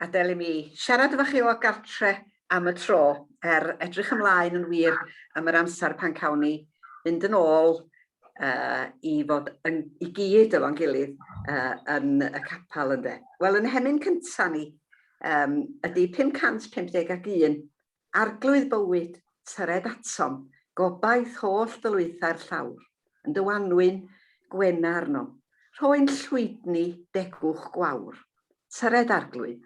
Gadel i mi siarad efo chi o gartre am y tro, er edrych ymlaen yn wir am yr amser pan cawn ni fynd yn ôl uh, i fod yn, i gyd efo'n gilydd uh, yn y capel ynde. Wel yn hemyn cynta ni um, ydy 551 Arglwydd bywyd, tyred atom, gobaith holl ddylwythau'r llawr, yn dy wanwyn, gwena arnom, rhoi'n llwydni degwch gwawr. Tyred, Arglwydd,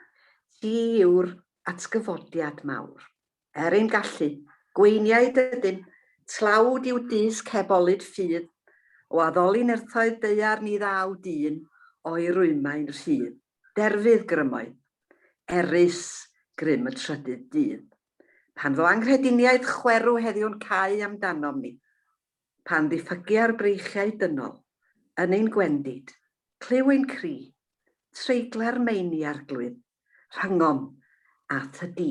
Ti yw'r atgyfodiad mawr. Er ein gallu, gweiniaid ydym, tlawd i'w dysg heb olud ffydd, o addoli nerthoedd daear ni ddaw dyn, o'i rwymau'n rhydd. derfydd grymoedd, erys grym y trydydd dydd, pan fo anghrediniaeth chwerw heddiw'n cau am danom ni, pan ddiffygia'r breichiau dynol yn ein gwendid, clyw ein cri, treigla'r meini arglwydd, rhyngom a Thy Dŷ.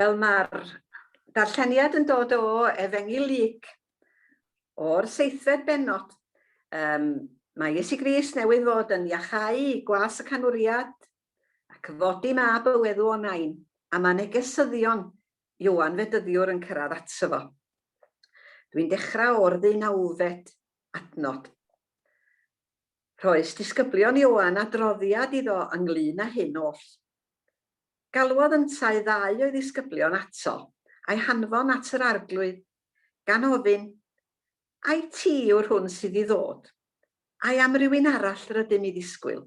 Wel, mae'r darlleniad yn dod o Efengyl Luc, o'r seithfed benod. Um, mae Iesu Gris newydd fod yn iachau i gwas y canwriad ac fodi mab y wedw o nain, a mae negesyddion Iwan Fedyddiwr yn cyrraedd ato fo. Dwi'n dechrau o'r ddeunawfed adnod. Rhoes disgyblion Ioan adroddiad iddo ynglŷn â hyn oll. Galwodd yntau ddau o'i ddisgyblion ato, a'i hanfon at yr Arglwydd, gan ofyn, Ai ti yw'r hwn sydd i ddod, ai am rywun arall rydym i ddisgwyl?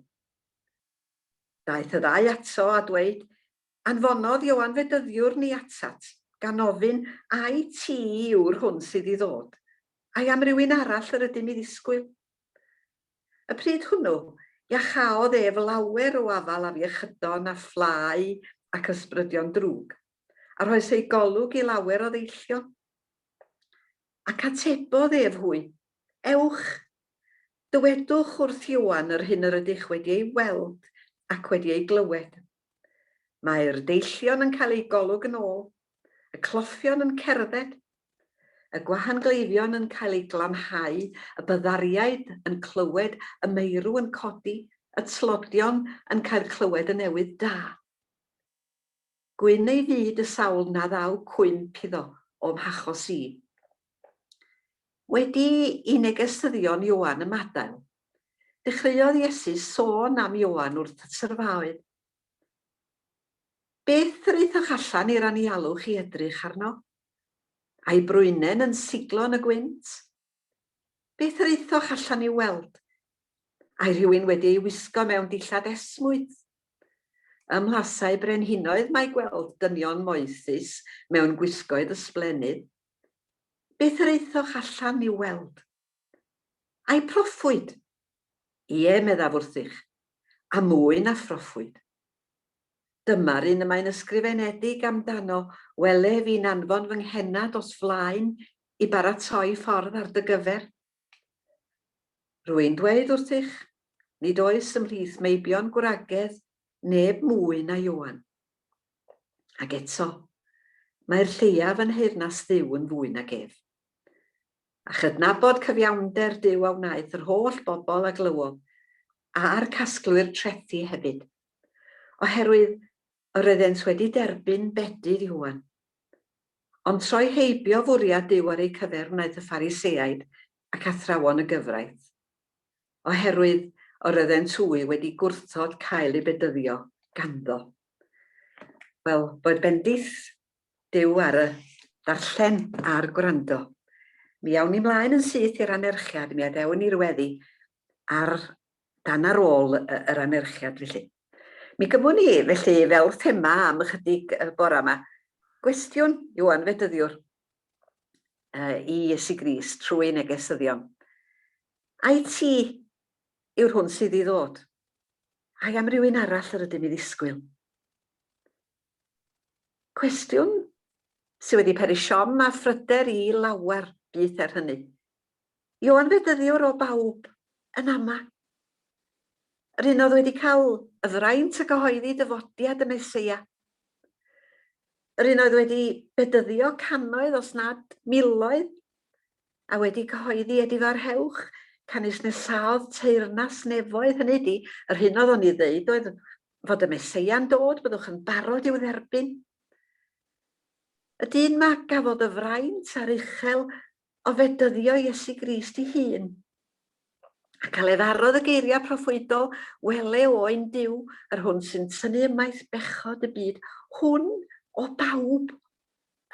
Daeth y ddau ato a dweud, Anfonodd Ioan fedyddiwr ni atat, gan ofyn, Ai ti yw'r hwn sydd i ddod, ai am rywun arall yr ydym i ddisgwyl? Y pryd hwnnw, iacháodd ef lawer o afal afiechydon a phlâu ac ysbrydion drwg, a rhoes ei golwg i lawer o ddeillion. Ac atebodd ef hwy, Ewch, dywedwch wrth Ioan yr hyn yr ydych wedi ei weld ac wedi ei glywed. Mae'r deillion yn cael eu golwg yn ôl, y clothion yn cerdded, y gwahangleifion yn cael eu glanhau, y byddariaid yn clywed y meirw yn codi, y tlodion yn cael clywed y newydd da. Gwyn ei fyd y sawl na ddaw cwymp iddo o'm hachos i. Wedi i negystyddion Ioan ymadael, dechreuodd Iesu sôn am Ioan wrth y syrfaoedd. Beth yr aethoch allan i'r anialwch i edrych arno? A'i brwynen yn siglo yn y gwynt? Beth yr aethoch allan i'w weld? Ai rhywun wedi ei wisgo mewn dillad esmwyth? Ym mhlasau brenhinoedd mae gweld dynion moethus mewn gwisgoedd ysblennydd. Beth yr aethoch allan i'w weld? Ai proffwyd? Ie, meddaf wrthych, a mwy na phroffwyd. Dyma'r un y mae'n ysgrifenedig amdano, Wele fi'n anfon fy nghenad os flaen i baratoi ffordd ar dy gyfer. Rwy'n dweud wrthych, nid oes ymhlith meibion gwragedd neb mwy na Ioan. Ac eto, mae'r lleiaf yn nheyrnas Dduw yn fwy nag ef. A chydnabod cyfiawnder Duw a wnaeth yr holl bobl a glywodd, a'r casglwyr trethi hefyd. Oherwydd Yr oeddent wedi derbyn bedydd Ioan. Ond troi heibio fwriad Duw ar eu cyfer wnaeth y Phariseaid ac athrawon y gyfraith. Oherwydd yr oeddent hwy wedi gwrthod cael eu bedyddio ganddo. Wel, roedd bendith Duw ar y darllen a'r gwrando. Mi awn ni mlaen yn syth i'r anerchiad, mi adewn ni'r weddi ar dan ar ôl yr anerchiad felly. Mi gymwn ni felly fel thema am ychydig bora yma, gwestiwn i'w anfedyddiwr, i Iesu Grist trwy negesyddion. Ai ti yw'r hwn sydd i ddod? Ai am rywun arall yr ydym i ddisgwyl? Cwestiwn sydd wedi peri siom a phryder i lawer byd er hynny. I'w anfedyddiwr o bawb yn ama'. Yr un oedd wedi cael y fraint a gyhoeddi dyfodiad y Meseia. Yr un oedd wedi bedyddio cannoedd os nad miloedd a wedi cyhoeddi edifarhewch canys nesaodd teyrnas nefoedd, hynny ydi, yr hyn oedd o'n ei ddeud oedd fod y Meseia'n dod, byddwch yn barod i'w dderbyn. Y dyn 'ma gafodd y fraint a'r uchel o fedyddio Iesu Grist ei hun, ac aleddarodd y geiriau proffwydol, Wele o ein Duw, yr hwn sy'n tynnu ymaith bechod y byd, hwn o bawb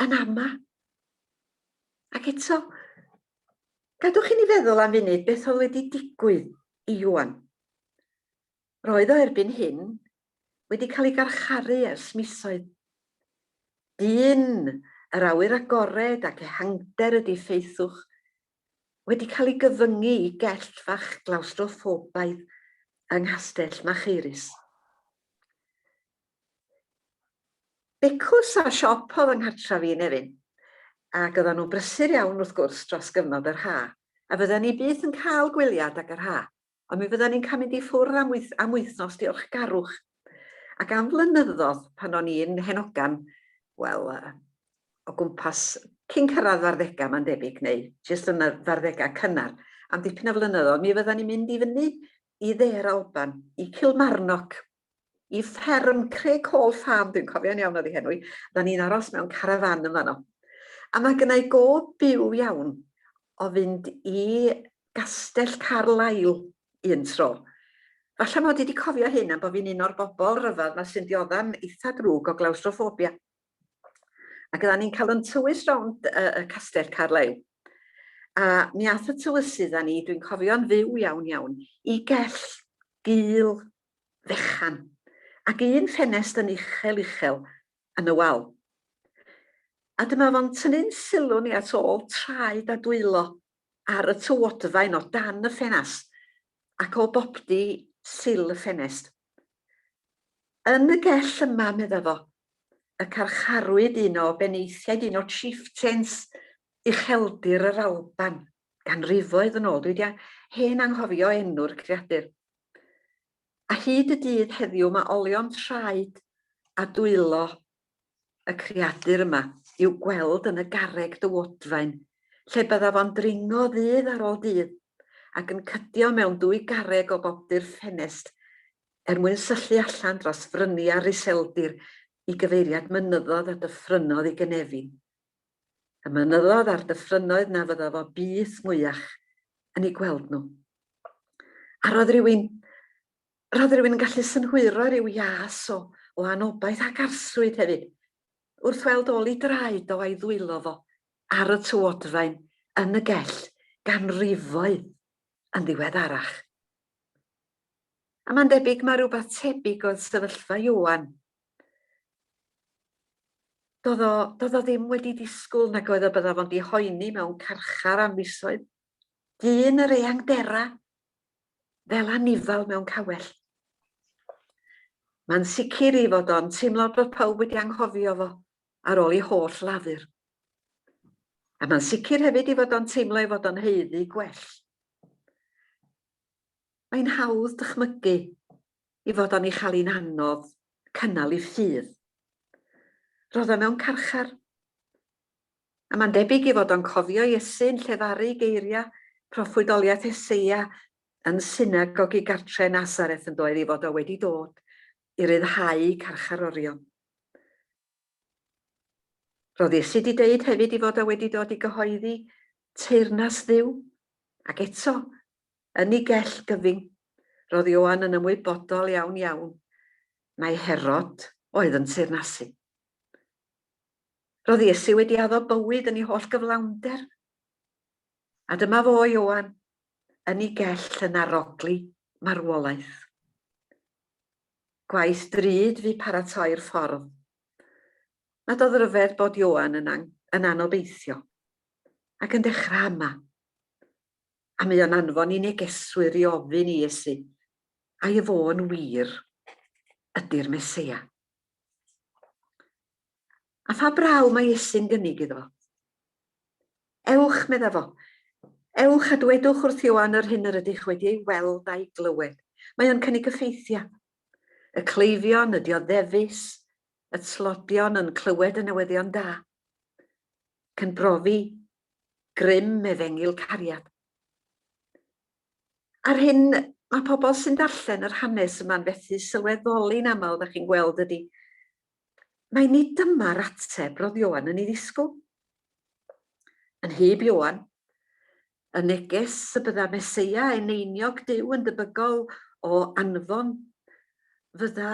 yn ama. Ac eto, gadwch i ni feddwl am funud beth oedd wedi digwydd i Iwan. Roedd o erbyn hyn wedi cael ei garcharu ers misoedd. Dyn yr awyr agored ac ehangder ydi Ffeithwch, wedi cael ei gyfyngu i gellt fach glawstroffobaidd yng Nghastell Machaerus. Becws a siop oedd yng nghartref i, Nefyn, ac oeddan nhw'n brysur iawn wrth gwrs dros gyfnod yr ha, a fyddan ni byth yn cael gwyliad ag yr ha. Ond mi fyddan ni'n cael mynd i ffwrdd am wyth- am wythnos diolchgarwch. Ac am flynyddodd, pan o'n i'n hen ogan, wel, yy, o gwmpas cyn cyrraedd f'arddegau, mae'n debyg, neu jyst yn y f'arddegau cynnar, am dipyn o flynyddoedd, mi fyddan ni'n mynd i fyny i dde'r Alban, i Kilmarnock, i fferm Craig Hall Farm, dwi'n cofio'n iawn oedd ei henw hi, da ni'n aros mewn carafan yn fanno. A mae gynna i gof byw iawn o fynd i Gastell Carlail un tro. Falle mod i wedi cofio hyn am bod fi'n un o'r bobl rhyfedd mae sy'n dioddefn eitha drwg o glawstroffobia. Ac oedden ni'n cael yn tywys rownd y, y castell Carlail. A mi ath y tywysydd â ni, dwi'n cofio'n fyw iawn iawn, i gell gul fechan, ac un ffenest yn uchel uchel yn y wal. A dyma fo'n tynnu'n sylw ni at ôl traed a dwylo ar y tywodfaen o dan y ffenast, ac o boptu sill y ffenest. Yn y gell yma, medda fo, y carcharwyd un o benaethiaid un o chieftains ucheldir yr Alban, ganrifoedd yn ôl, dwi 'di hen anghofio enw'r creadur. A hyd y dydd heddiw mae olion traed a dwylo y creadur yma i'w gweld yn y garreg dywodfaen, lle byddaf o'n dringo ddydd ar ôl dydd, ac yn cydio mewn dwy garreg o bobdu'r ffenest er mwyn syllu allan dros fryniau'r iseldir i gyfeiriad mynyddodd a dyffrynnodd i gynefin. Y mynyddodd a'r dyffrynnoedd na fydda fo byth mwyach yn eu gweld nhw. A roedd rhywun, roedd rhywun yn gallu synhwyro rhyw ias o, o anobaith ac arswyd hefyd, wrth weld ôl i draed o a'i ddwylo fo ar y tywodfaen yn y gell ganrifoedd yn ddiweddarach. A mae'n debyg mae rhywbeth tebyg oedd sefyllfa Ioan Doedd o, doedd o ddim wedi disgwyl nag oedd y byddaf ond i hoeni mewn carchar am fisoedd. Dyn yr eang dera, fel anifal mewn cawell. Mae'n sicr i fod o'n teimlo bod pawb wedi anghofio fo ar ôl i holl lafur. A mae'n sicr hefyd i fod o'n teimlo ei fod o'n heiddi gwell. Mae'n hawdd dychmygu i fod o'n ei chael hi'n anodd cynnal ei ffydd. Roedd o mewn carchar. A mae'n debyg i fod o'n cofio Iesu yn llefaru geiriau proffwydoliaeth Eseia yn synagogi gartre Nazareth yn doedd i fod o wedi dod i ryddhau carcharorion. Roedd Iesu wedi deud hefyd i fod o wedi dod i gyhoeddi teyrnas ddiw, ac eto, Yn ei gell gyfyng, roedd Ioan yn ymwybodol iawn iawn mai Herod oedd yn teyrnasu. Roedd Iesu wedi addo bywyd yn ei holl gyflawnder. A dyma fo, Ioan, yn ei gell yn arogli marwolaeth. Gwaith drud fu paratoi'r ffordd. Nad oedd ryfedd bod Ioan yn, an yn anobeithio ac yn dechrau ama. A mae o'n anfon i negeswyr i ofyn i Iesu, A ef o yn wir ydy'r Meseia? A pha braw mae Iesu'n gynnig iddo? Ewch, medda fo. Ewch a dwedwch wrth Ioan yr hyn yr ydych wedi ei weld a'i glywed. Mae o'n cynnig y ffeithiau. Y cleifion, y dioddefus, y tlodion yn clywed y newyddion da. Cyn brofi Grym efengyl cariad. A'r hyn mae pobl sy'n darllen yr hanes yma'n fethu sylweddoli'n aml, da chi'n gweld, ydy, mae nid dyma'r ateb roedd Ioan yn ei ddisgwyl. Yn hyb Ioan, y neges y bydda Meseia eneiniog Duw yn debygol o anfon fydda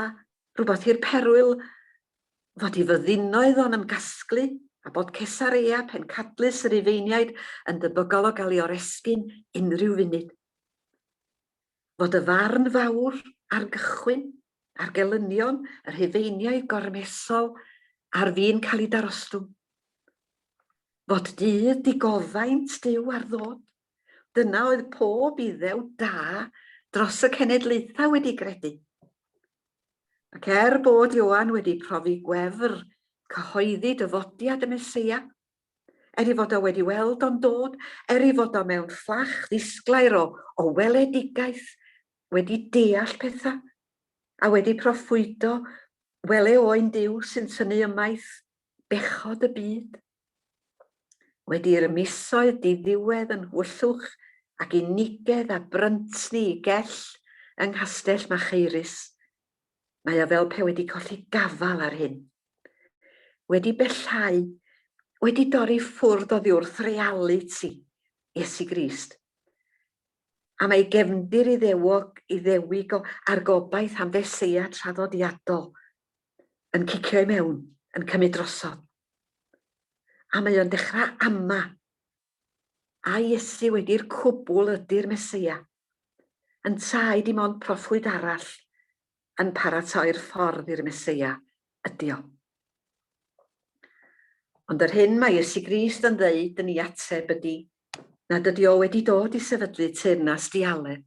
rhywbeth i'r perwyl fod i fyddinoedd o'n ymgasglu, a bod Cesareia, pencadlys y Rufeiniaid, yn debygol o gael ei oresgyn unrhyw funud. Fod y farn fawr ar gychwyn, ar gelynion y Rhufeiniaid gormesol ar fin cael ei darostwng. Fod dydd digoddaint Duw ar ddod. Dyna oedd pob iddew da dros y cenedlaethau wedi gredu. Ac er bod Ioan wedi profi gwefr cyhoeddi dyfodiad y Meseia, er ei fod o wedi weld o'n dod, er ei fod o mewn fflach ddisglair o, o weledigaeth, wedi deall pethau, a wedi proffwydo wele o ein Duw sy'n tynnu ymaith bechod y byd. Wedi i'r misoedd diddiwedd yn Nhwyllwch ac unigedd a Bryntni i Gell yng Nghastell Machaerus, mae o fel pe wedi colli gafael ar hyn. Wedi bellhau, wedi dorri ffwrdd oddiwrth realiti Iesu Grist. Am ei gefndir Iddewog, Iddewig a'r gobaith am Feseia traddodiadol yn cicio i mewn, yn cymryd drosodd. A mae o'n dechrau ama. A Iesu wedi'r cwbl ydy'r Meseia. Yntau dim ond proffwyd arall yn paratoi'r ffordd i'r Meseia ydy o. Ond yr hyn mae Iesu Grist yn ddeud yn ei ateb ydy nad ydy o wedi dod i sefydlu teyrnas dialedd,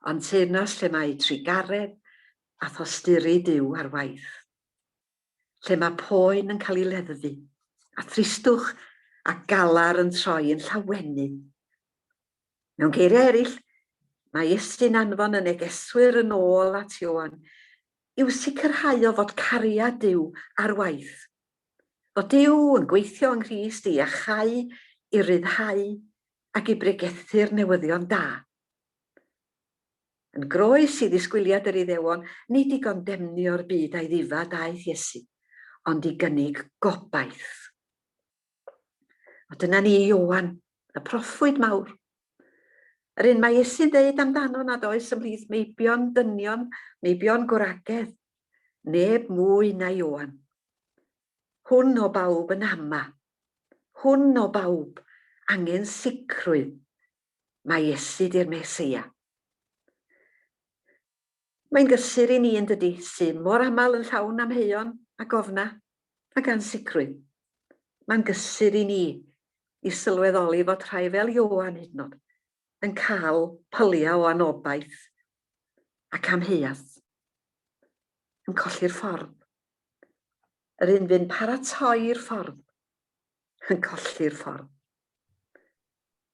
ond teyrnas lle mae trugaredd a thosturi Duw ar waith. lle mae poen yn cael ei leddfu, a thristwch a galar yn troi yn llawennu. Mewn geiriau eraill, mae Iesu'n anfon y negeswyr yn ôl at Ioan i'w sicrhau o fod cariad Duw ar waith, fod Duw yn gweithio yng Nghrist i iachau, i ryddhau ac i bregethu'r newyddion da. Yn groes i ddisgwyliad yr Iddewon, nid i gondemnio'r byd a'i ddifad aeth Iesu, ond i gynnig gobaith. A dyna ni i Ioan, y proffwyd mawr. Yr un mae Iesu'n dweud amdano nad oes ymhlith meibion dynion, meibion gwragedd, neb mwy na Ioan. Hwn o bawb yn ama. Hwn o bawb angen sicrwydd Mae Iesu 'di'r Meseia. Mae'n gysur i ni, yn dydi, sydd mor aml yn llawn amheuon a gofna ac ansicrwydd. Mae'n gysur i ni i sylweddoli fod rhai fel Ioan hyd yn oed yn cael pyliau o anobaith ac amheuaeth, yn colli'r ffordd. Yr un fu'n paratoi'r ffordd, yn colli'r ffordd.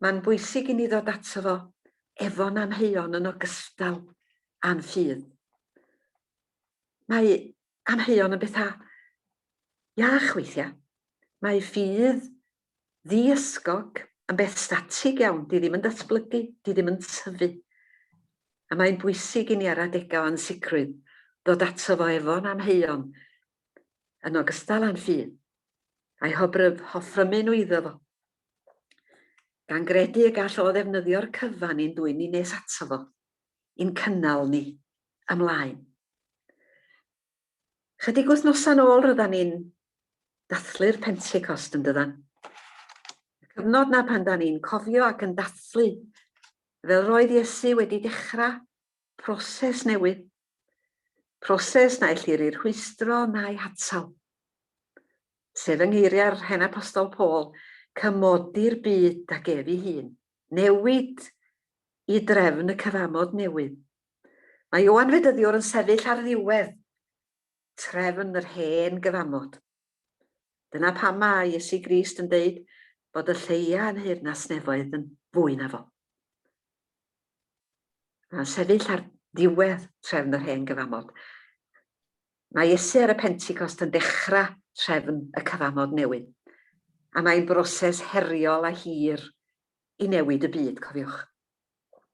Mae'n bwysig i ni ddod ato fo efo'n amheuon yn ogystal â'n ffydd. Mae amheuon yn bethau iach weithiau. Mae ffydd ddi-ysgog yn beth statig iawn, di ddim yn datblygu, di ddim yn tyfu. A mae'n bwysig i ni ar adegau o ansicrwydd ddod ato fo efo'n amheuon yn ogystal â'n ffydd, a'i hoffrymu nhw iddo fo. gan gredu y gall o ddefnyddio'r cyfan i'n dwyn ni nes ato fo, i'n cynnal ni ymlaen. Chydig wythnosau'n ôl ryddan ni'n dathlu'r Pentecost yn dydan. Y cyfnod na pan da ni'n cofio ac yn dathlu fel roedd Iesu wedi dechrau proses newydd Proses na ellir ei rhwystro na'i hatal. Sef yng ngeiriau'r hen apostol Paul, cymodi'r byd ag ef ei hun. Newid i drefn y cyfamod newydd. Mae Ioan Fedyddiwr yn sefyll ar ddiwedd trefn yr hen gyfamod. Dyna pam mae Iesu Grist yn deud bod y lleia yn hŷr nas nefoedd yn fwy na fo. Mae'n sefyll ar ddiwedd trefn yr hen gyfamod. Mae Iesu ar y Pentecost yn dechrau trefn y cyfamod newydd. A mae'n broses heriol a hir i newid y byd, cofiwch.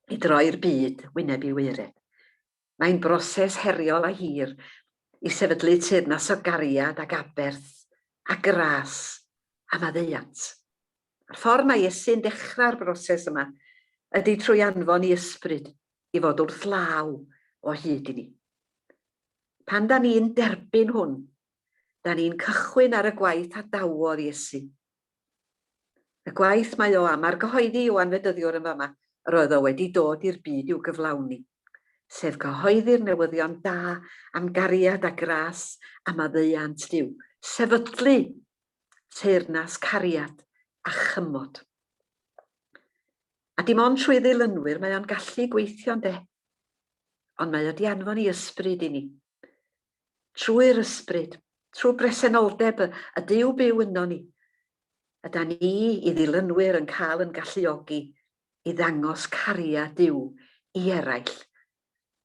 I droi'r byd wyneb i wyred. Mae'n broses heriol a hir i sefydlu teyrnas o gariad ac aberth a gras a maddeuant. A'r ffordd mae Iesu'n dechrau'r broses yma ydy trwy anfon i Ysbryd i fod wrth law o hyd i ni. Pan da ni'n derbyn hwn, da ni'n cychwyn ar y gwaith adawodd Iesu Y gwaith mae o am argyhoeddi yw anfedyddiwr yn fama yr oedd o wedi dod i'r byd i'w gyflawni, sef cyhoeddi'r newyddion da am gariad a gras a maddeuant Duw, sefydlu teyrnas cariad a chymod. A dim ond trwy ddilynwyr mae o'n gallu gweithio ynde? Ond mae o 'di anfon 'i ysbryd i ni. trwy'r ysbryd, trwy bresenoldeb y, y Duw byw yno ni, yda ni i ddilynwyr yn cael yn galluogi i ddangos cariad Duw i eraill.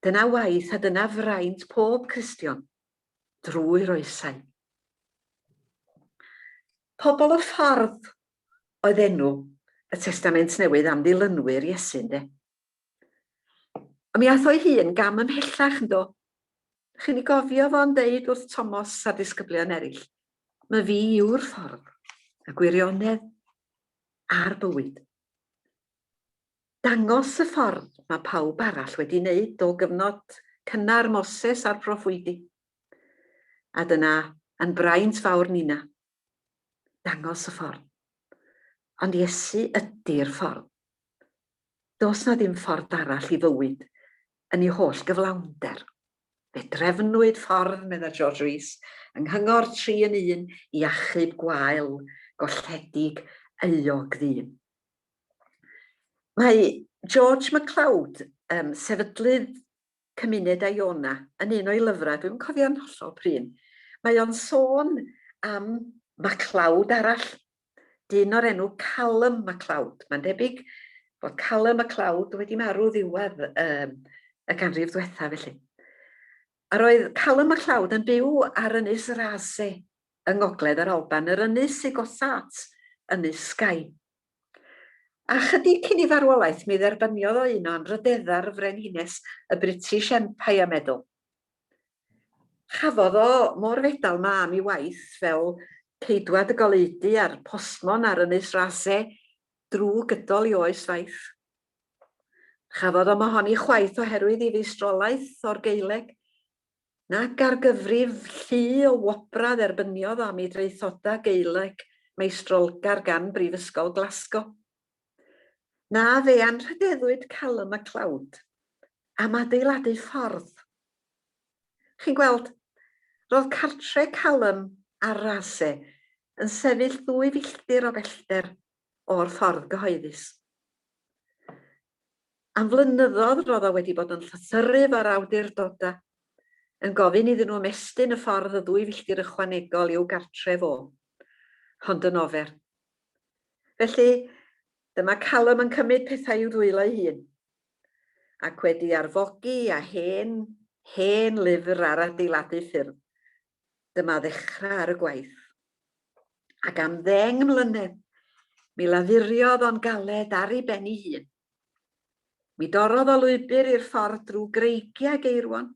Dyna waith a dyna fraint pob Cristion, drwy'r oesau. Pobl y ffordd oedd enw y Testament Newydd am ddilynwyr Iesu, ynde? A mi ath o'i hun gam ymhellach, yndo? Chi'n ei gofio fo'n deud wrth Tomos a'r disgyblion eraill, Mae fi yw'r ffordd, y gwirionedd a'r bywyd. Dangos y ffordd mae pawb arall wedi wneud o gyfnod cynnar Moses a'r proffwydi. A dyna, yn braint fawr Nina, dangos y ffordd. Ond Iesu ydi'r ffordd. Does na ddim ffordd arall i fywyd yn ei holl gyflawnder. Fe drefnwyd ffordd, medda George Rees, yng Nghyngor Tri yn Un i achub gwael golledig euog ddyn. Mae George McLeod, um, sefydlydd Cymuned Iona yn un o'i lyfrau, dwi'm yn cofio'n hollol prin, mae o'n sôn am MacLeod arall, dyn o'r enw Callum MacLeod. Mae'n debyg bod Callum MacLeod wedi marw ddiwedd um, y ganrif ddwetha felly. A roedd Callum MacLeod yn byw ar ynys Rase yng ngogledd yr Alban, yr ynys i gosat ynys Skye. Ychydig cyn ei farwolaeth mi dderbyniodd o un o anrhydeddau'r y Frenhines y British Empire Medal. Chafodd o mo'r fedal 'ma am ei waith fel ceidwad y goleudy a'r postmon ar Ynys Rasay drw gydol ei oes faith. Chafodd o'm ohoni chwaith oherwydd ei feistrolaeth o'r Gaeleg, Nac ar gyfrif llu o wobrau dderbyniodd o am ei draethodau Gaeleg meistrolgar gan Brifysgol Glasgow. Na, fe anrhydeddwyd Callum MacLeod am adeiladu ffordd. Chi'n gweld, roedd cartre Callum ar Raasay yn sefyll ddwy filltir o bellter o'r ffordd gyhoeddus. Am flynyddodd roedd o wedi bod yn llythyru efo'r awdurdodau, yn gofyn iddyn nhw ymestyn y ffordd y ddwy filltir ychwanegol i'w gartref o, Hond yn Ofer. Felly, dyma Callum yn cymryd pethau i'w dwylo ei hun, ac wedi arfogi â hen, hen lyfr ar adeiladu ffyrdd, Dyma ddechrau ar y gwaith. Ac am ddeng mlynedd, mi lafuriodd o'n galed ar ei ben ei hun. Mi dorrodd o lwybr i'r ffordd drwy greigiau geirwon.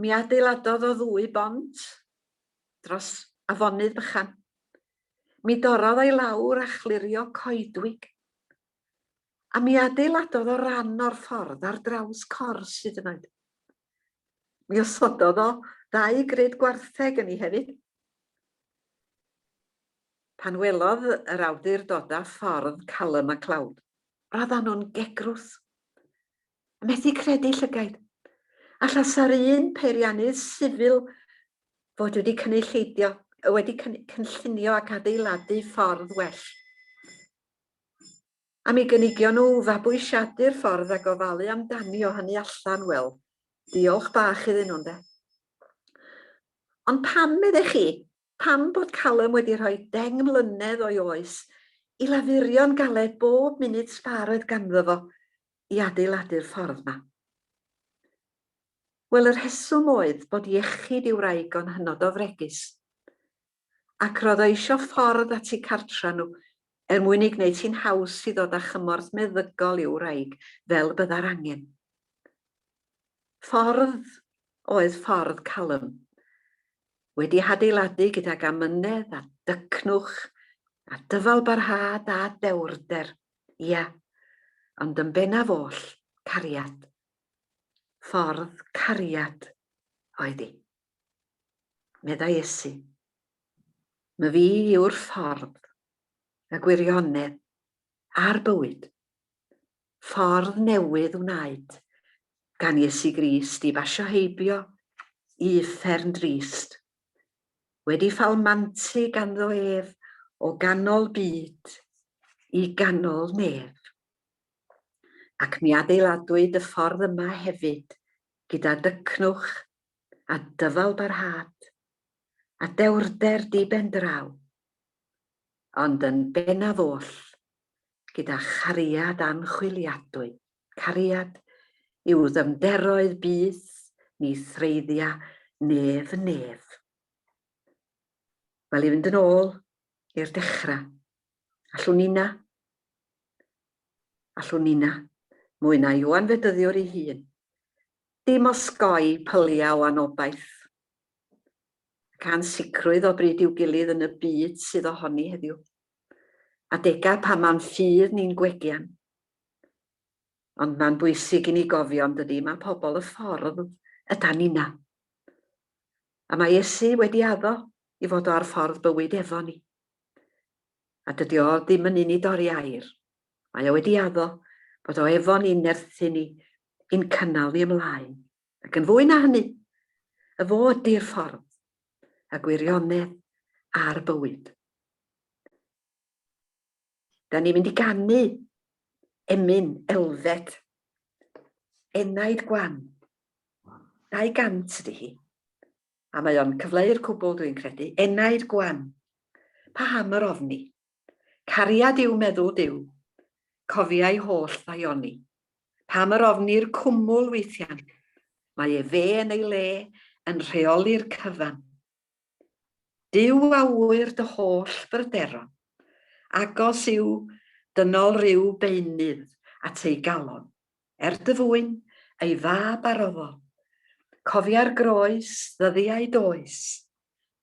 Mi adeiladodd o ddwy bont dros afonydd bychan. Mi dorrodd o'i lawr a chlirio coedwig. A mi adeiladodd o ran o'r ffordd ar draws cors hyd yn oed. Mi osododd o ddau grid gwartheg yn i hefyd. Pan welodd yr awdurdoda ffordd Callum a Cloud, roeddan nhw'n gegrwth. A methu credu llygaid. Alla sa'r un peiriannydd sifil fod wedi cynulleidio, wedi cynllunio ac adeiladu ffordd well. Am i gynigion nhw fabwysiadu'r ffordd a gofalu amdani o hynny allan, wel, diolch bach iddyn nhw, ynde? Ond pam, meddech chi, pam bod Callum wedi rhoi deng mlynedd o'i oes i lafurio'n galed bob munud sbâr oedd ganddo fo i adeiladu'r ffordd 'ma? Wel, y rheswm oedd bod iechyd ei wraig o'n hynod o fregus. ac roedd o isio ffordd at eu cartra nhw er mwyn ei gwneud hi'n haws i ddod â chymorth meddygol i'w wraig fel y byddai'r angen. Ffordd oedd ffordd Callum. Wedi hadeiladu gydag amynedd a dycnwch a dyfalbarhad a dewrder, ia, ond yn bennaf oll, cariad. Ffordd cariad oedd hi. Meddai Iesu, Mae fi yw'r ffordd, y gwirionedd, a'r bywyd. Ffordd newydd wnaed gan Iesu Grist i basio heibio i uffern drist, wedi ffalmantu ganddo ef o ganol byd i ganol nef. Ac mi adeiladwyd y ffordd yma hefyd gyda dycnwch a dyfalbarhad, a dewrder di-ben draw, ond yn bennaf oll, gyda chariad anchwiliadwy, cariad i'w ddyfnderoedd byth ni threiddia nef yn nef. Wel, i fynd yn ôl i'r dechrau, allwn nina, allwn nina, mwy na Ioan Fedyddiwr ei hun, Dim osgoi pyliau o anobaith, ac ansicrwydd o bryd i'w gilydd yn y byd sydd ohoni heddiw. Adegau pan mae'n ffydd ni'n gwegian. Ond mae'n bwysig i ni gofio, yn dydi, mae pobl y ffordd ydan ninna. A mae Iesu wedi addo i fod o ar ffordd bywyd efo ni. A dydy o ddim yn un i dorri air. Mae o wedi addo bod o efo ni'n nerthu ni i'n cynnal ni ymlaen, ac yn fwy na hynny, y fo ydi'r ffordd, y gwirionedd a'r bywyd. Da ni'n mynd i gannu emyn elfed, enaid gwan, 200 ydy hi, a mae o'n cyfleu'r cwbl dwi'n credu, enaid gwan, pa ham yr ofni? Cariad yw meddwl Duw, cofia'i holl ddaioni. Pam yr ofni'r cwmwl weithian? Mae ef fe yn ei le yn rheoli'r cyfan. Duw a ŵyr dy holl bryderon, agos i'w dynol rhyw beunydd at ei galon, er dy fwyn, ei fab arofol. Cofia'r groes, ddyddiau does,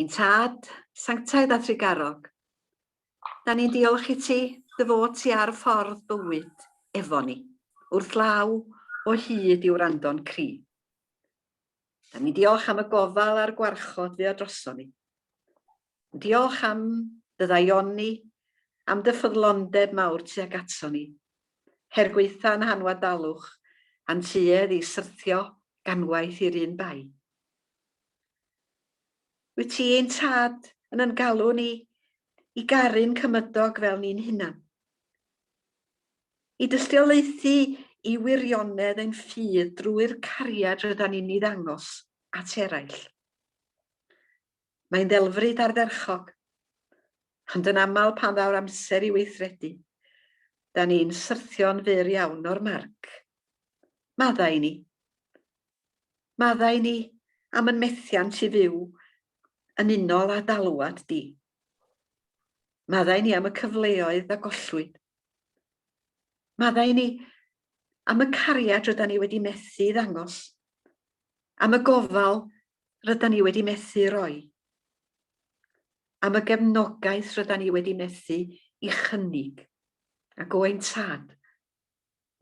Ein Tad, sanctaidd a thrugarog, da ni'n diolch i ti dy fod ti ar y ffordd bywyd efo ni, wrth law o hyd i'w rando'n cri. Da ni'n diolch am y gofal a'r gwarchod fu o droso ni. Diolch am dy ddaioni, am dy ffyddlondeb mawr tuag aton ni. Her gwaetha yn hanwadalwch a'n tuedd i syrthio ganwaith i'r un bai. Wyt ti ein tad yn yn galw ni i garu'n cymydog fel ni'n hunan. I dystiolaethu i wirionedd ein ffydd drwy'r cariad rydan ni'n ei ddangos at eraill. Mae'n ddelfryd ardderchog, ond yn aml pan ddaw'r amser i weithredu, da ni'n syrthio'n fyr iawn o'r marc. Maddau ni. Maddau ni am yn methiant i fyw yn unol â d'alwad di. Maddau ni am y cyfleoedd a gollwyd. Maddau ni am y cariad ryda ni wedi methu i ddangos, am y gofal rydan ni wedi methu roi, am y gefnogaeth rydan ni wedi methu i chynnig, ac o'n tad,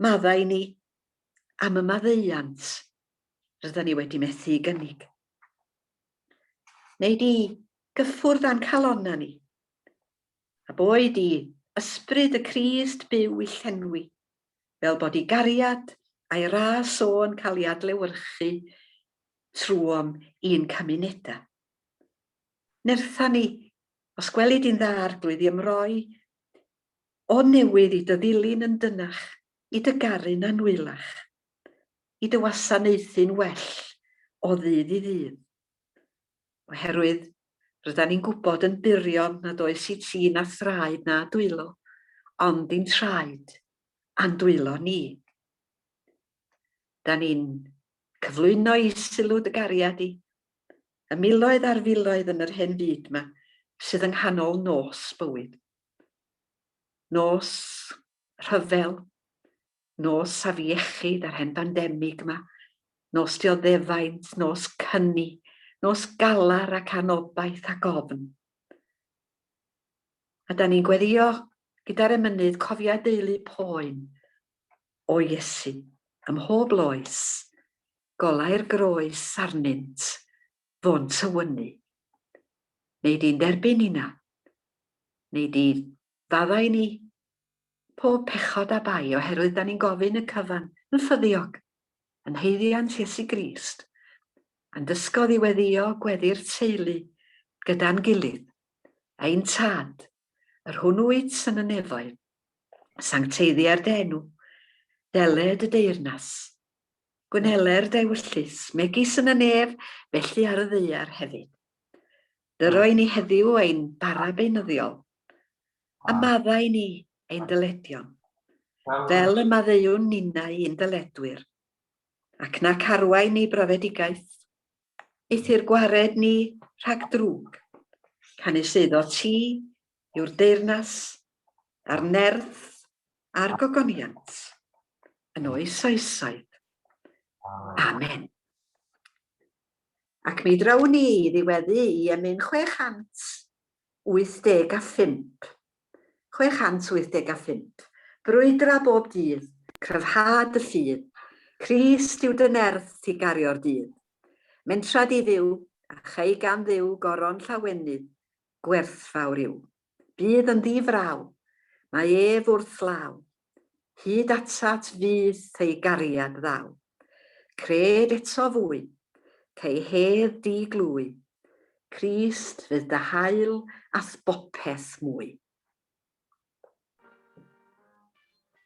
maddau ni am y maddeuant rydan ni wedi methu i gynnig. Neu di gyffwrdd â'n calonna ni, a boed i ysbryd y Crist byw i llenwi fel bod ei gariad a'i ras o yn cael ei adlewyrchu trwom i'n cymunedau. Nertha ni, os gweli di'n dda arglwydd i ymroi o newydd i dy ddilyn yn dynach, i dy garu'n annwylach, i dy wasanaethu'n well o ddydd i ddydd. oherwydd rydan ni'n gwybod yn burion nad oes i ti na thraed na dwylo, ond i'n traed a'n dwylo ni. Da ni'n cyflwyno i sylw dy gariad i, y miloedd a'r filoedd yn yr hen fyd yma sydd yng nghanol nos bywyd. Nos rhyfel, Nos afiechyd a'r hen bandemig yma, nos dioddefaint, nos cyni, nos galar ac anobaith ac ofn. A da ni'n gweddio gyda'r emynydd cofiau deulu poen o Iesu ym mhob loes, golau'r groes arnynt, fo'n tywynnu. Neu di'n derbyn inna, neu di Fyddai ni. Pob pechod a bai, oherwydd da ni'n gofyn y cyfan, yn ffyddiog, yn haeddiant Iesu Grist, a'n dysgodd i weddio gweddi'r teulu gyda'n gilydd, ein Tad, yr hwn wyt yn y nefoedd, sancteiddiar dy enw, dele dy deyrnas, gwnele'r dy ewyllys, megis yn y nef, felly ar y ddaear hefyd. Dyro i ni heddiw ein bara beunyddiol, a maddau ni ein dyledion, fel y maddeuwn ninnau i'n dyledwyr, ac na carwai ni brofedigaeth, eithr gwared ni rhag drwg, canys eiddo ti yw'r deyrnas, a'r nerth, a'r gogoniant, yn oes oesoedd. Amen. Ac mi draw ni i ddiweddu i emyn 685. 685. Brwydra bob dydd, cryfha dy ffydd, Crist yw dy nerth ti gario'r dydd. Mentra di Dduw, a chei gan Dduw goron llawenydd, gwerthfawr yw. Bydd yn ddi-fraw, mae ef wrth law, Hyd atat fyth ei gariad ddaw. Cred eto fwy, cei hedd di glwy, Crist fydd dy hael a'th bopeth mwy.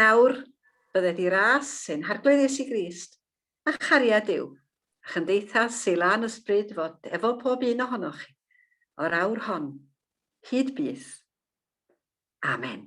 Nawr, bydde di ras sy'n harglwydd Iesu Grist, a chariad yw, a chymdeithas sy'n lan ysbryd fod efo pob un ohonoch chi, o'r awr hon, hyd byth. Amen.